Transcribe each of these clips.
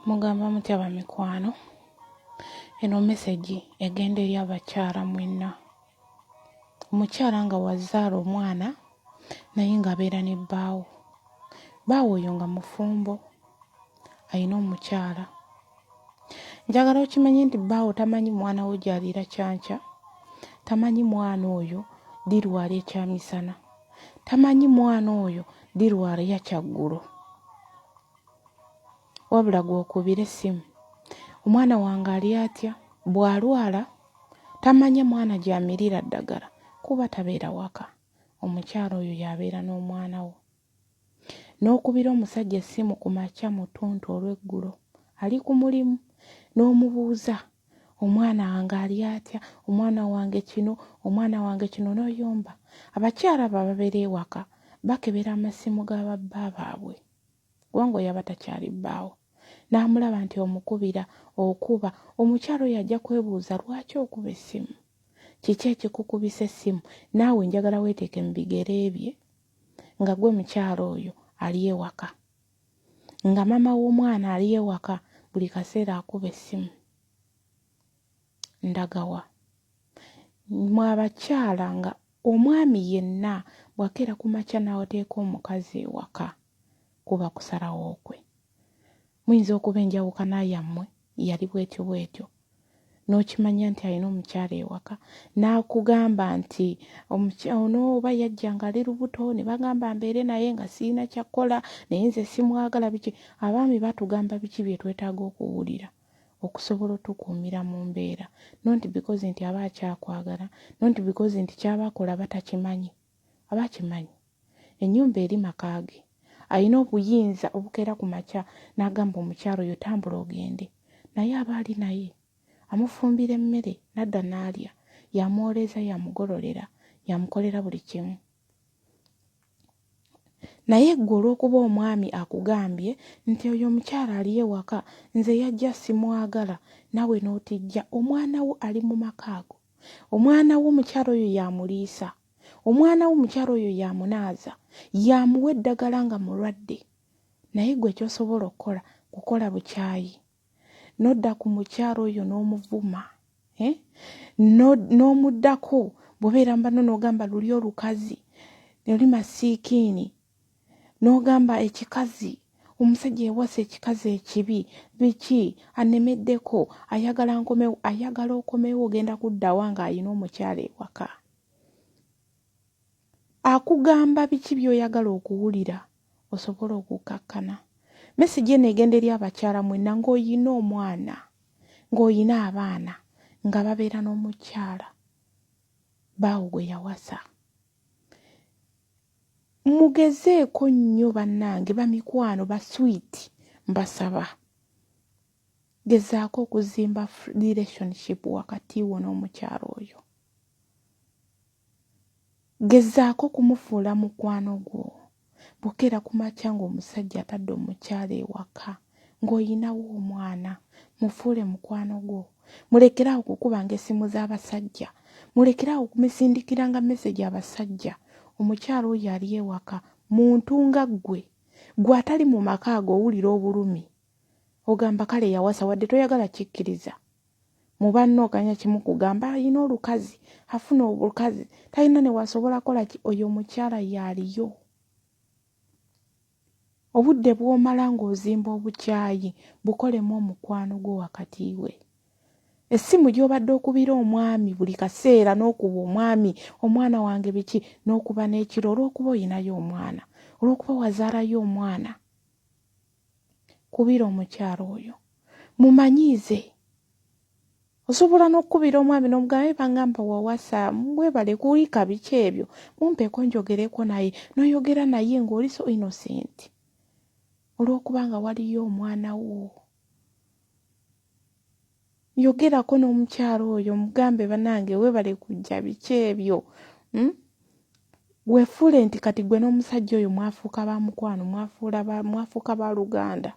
mugamba mutya bamikwano eno mesegi egenda eri abakyala mwenna omukyala nga wazaala omwana naye ng'abeera ne bbaawo baawo oyo nga mufumbo alina omukyala njagala okimanye nti baawo tamanyi mwana wo gyaliira kyanca tamanyi mwana oyo dirwala ekyamisana tamanyi mwana oyo dirwala yakyaggulo wabula gwokubira essimu omwana wange ali atya bw'alwala tamanya mwana gyamirira ddagala kuba tabeera waka omukyala oyo yabeera n'omwana wo N'okubira omusajja essimu ku makya mu ttuntu olw'eggulo, ali ku mulimu, n'omubuuza, Omwana wange ali atya? Omwana wange kino, omwana wange kino, n'oyomba. Abakyala abo ababeera ewaka bakebera amasimu ga babba baabwe, kubanga oyo aba takyali bbaawo, n'amulaba nti omukubira, okuba. Omukyala oyo ajja kwebuuza, Lwaki okuba essimu? Kiki ekikukubisa essimu? Naawe njagala weeteeke mu bigere bye. nga gwe mukyala oyo ali ewaka nga maama w'omwana ali ewaka buli kaseera akuba essimu ndagawa mwe abakyala nga omwami yenna bw'akeera ku makya n'ateeka omukazi ewaka kuba kusalawo kwe Muyinza okuba enjawukana yammwe yali bw'etyo bw'etyo, n'okimanya nti alina omukyala ewaka, n'akugamba nti omukya, ono oba yajja nga ali lubuto ne bagamba mbeere naye nga sirina kya kukola, naye nze simwagala, biki. Abaami batugamba biki bye twetaaga okuwulira okusobola otukuumira mu mbeera, not because nti aba akyakwagala, not because nti ky'aba akola batakimanyi. aba akimanyi ennyumba eri maka ge, alina obuyinza obukeera ku makya n'agamba omukyala oyo tambula ogende naye aba ali naye, amufumbira emmere n'adda n'alya, y'amwoleeza, y'amugololera, y'amukolera buli kimu. Naye ggwe olw'okuba omwami akugambye nti oyo omukyala ali ewaka nze yajja simwagala naawe n'otijja omwana wo ali mu maka ago, omwana wo omukyala oyo yamuliisa omwana wo omukyala oyo yamunaaza yamuwa eddagala nga mulwadde naye gwe kyosobola okukola kukola bukyayi nodda ku mukyala oyo n'omuvuma eh? n'omuddako bwobeera mbano n'ogamba luli olukazi oli masiikiini n'ogamba ekikazi omusajja yawasa ekikazi ekibi biki anemeddeko ayagala nkomewo ayagala okomewo ogenda kuddawa ng'alina omukyala ewaka akugamba biki by'oyagala okuwulira osobole okukkakkana mesegi eno egenda eri abakyala mwenna ng'oyina omwana ng'oyina abaana nga babeera n'omukyala baawo gwe yawasa mugezeeko nnyo bannange bamikwano ba sweet mbasaba gezaako okuzimba relationship wakati wo n'omukyalo oyo gezaako kumufuula mukwano gwo bukeera ku makya ng'omusajja atadde omukyalo ewaka ng'oyinawo omwana mufuule mukwano gwo mulekeraawo okukubanga essimu z'abasajja mulekeraawo okumisindikiranga mesegi abasajja omukyala oyo ali ewaka muntu nga ggwe gwe atali mu maka ago owulira obulumi ogamba kale yawasa wadde toyagala kikkiriza mu banna oganya kimu kugamba alina olukazi afuna obukazi talina newasobola kola ki oyo omukyala yaaliyo Obudde bw'omala ng'ozimba obukyayi bukolemu omukwano gwo wakati we. Essimu gy'obadde okubira omwami buli kaseera n'okuba omwami omwana wange biki n'okuba n'ekiro olw'okuba olinayo omwana, olw'okuba wazaalayo omwana. Kubira omukyala oyo. Mumanyiize. osobola n'okukubira omwami n'omugamba eba ngamba wawasa mwebale kuwika biki ebyo mumpeeko njogereko naye noyogera naye ng'oli so innocent olw'okuba nga waliyo omwana wo yogerako n'omukyalo oyo mugambe banange webale kujja biki ebyo hmm? wefuule nti kati gwe n'omusajja oyo mwafuuka ba mukwano mwafuuka ba luganda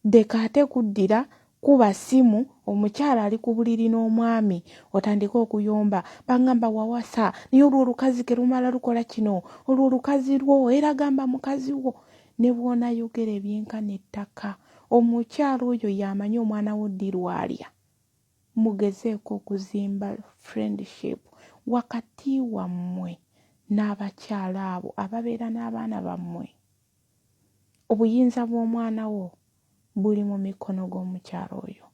Ndeka ate kuddira kuba ssimu omukyala ali ku buliri n'omwami otandike okuyomba bangamba wawasa naye olwo olukazi terumala lukola kino olwo olukazi lwo era gamba mukazi wo ne bw'onayogera ebyenkana ettaka omukyala oyo y'amanyi omwana wo ddi lwalya mugezeeko okuzimba friendship wakati wammwe n'abakyala abo ababeera n'abaana bammwe. Obuyinza bw'omwana wo buli mu mikono g'omukyala oyo.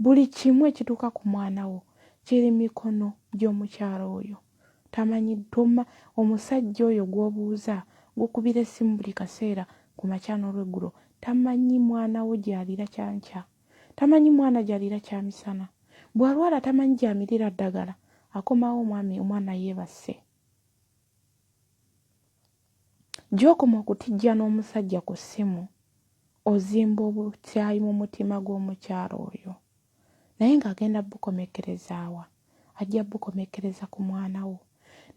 Buli kimu ekituuka ku mwana wo kiri mikono gy'omukyala oyo. Tamanyi, toma, omusajja oyo gw'obuuza, gw'okubira essimu buli kaseera ku makya n'olweggulo, tamanyi mwana wo gy'aliira kya nkya. Tamanyi mwana gy'aliira kya misana. Bw'alwala tamanyi gy'amirira ddagala. Akomawo omwami, omwana yeebase. Gy'okoma okutijjana omusajja ku ssimu, ozimba obukyayi mu mutima gw'omukyala oyo. Naye ng'agenda bukomekkereza wa? Ajja bukomekkereza ku mwana wo.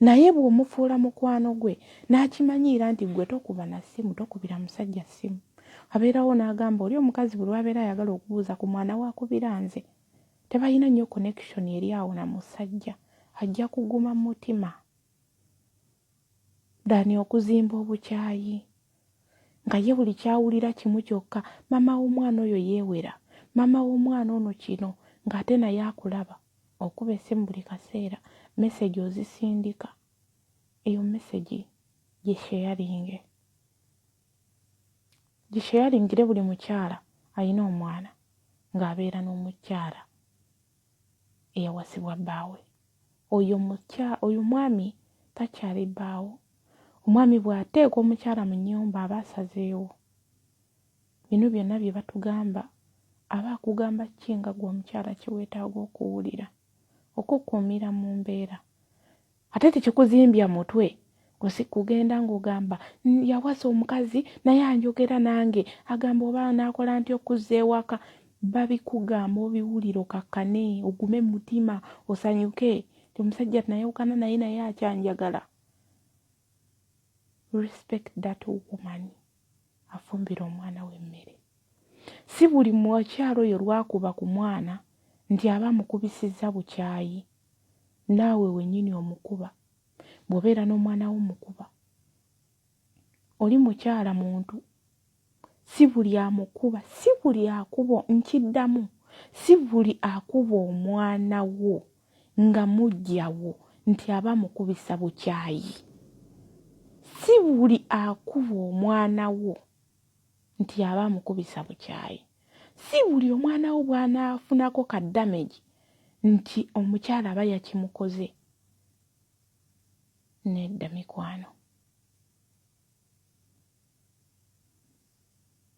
Naye bw'omufuula mukwano gwe n'akimanyiira nti ggwe tokuba na ssimu, tokubira musajja ssimu, abeerawo n'agamba oli omukazi buli lw'abeera ayagala okubuuza ku mwana we akubira nze. Tebalina nnyo connection eri awo na musajja. Ajja kuguma mu mutima. than okuzimba obukyayi nga ye buli kyawulira kimu kyokka mama w'omwana oyo yeewera mama w'omwana ono kino ng'ate naye akulaba okuba essimu buli kaseera message ozisindika eyo message gisheyaringe gisheyaringire buli mukyala alina omwana ng'abeera n'omukyala eyawasibwa bbaawe. Oyo mukya oyo omwami takyali bbaawo. Omwami bw'ateeka omukyala mu nnyumba aba asazeewo. Bino byonna bye batugamba aba akugamba ki nga ggwe omukyala kye weetaaga okuwulira okukukuumira mu mbeera? ate tekikuzimbya mutwe kugenda ng'ogamba yawasa omukazi naye anjogera nange agamba oba naakola nti okuzza ewaka babikugamba obiwulira okakkane ogume mu mutima osanyuke ti omusajja tunayawukana naye naye akyanjagala respect that woman afumbira omwana w'emmere si buli mukyalo oyo lwakuba ku mwana nti aba mukubisizza bukyayi Naawe wennyini omukuba. Bw'obeera n'omwana wo omukuba. Oli mukyala muntu. Si buli amukuba, si buli akuba, nkiddamu, si buli akuba omwana wo nga muggya wo nti aba amukubisa bukyayi. Si buli akuba omwana wo. nti aba amukubisa bukyayi. Si buli omwana wo bw'anaafunako ka damage nti omukyala aba yakimukoze. Nedda mikwano.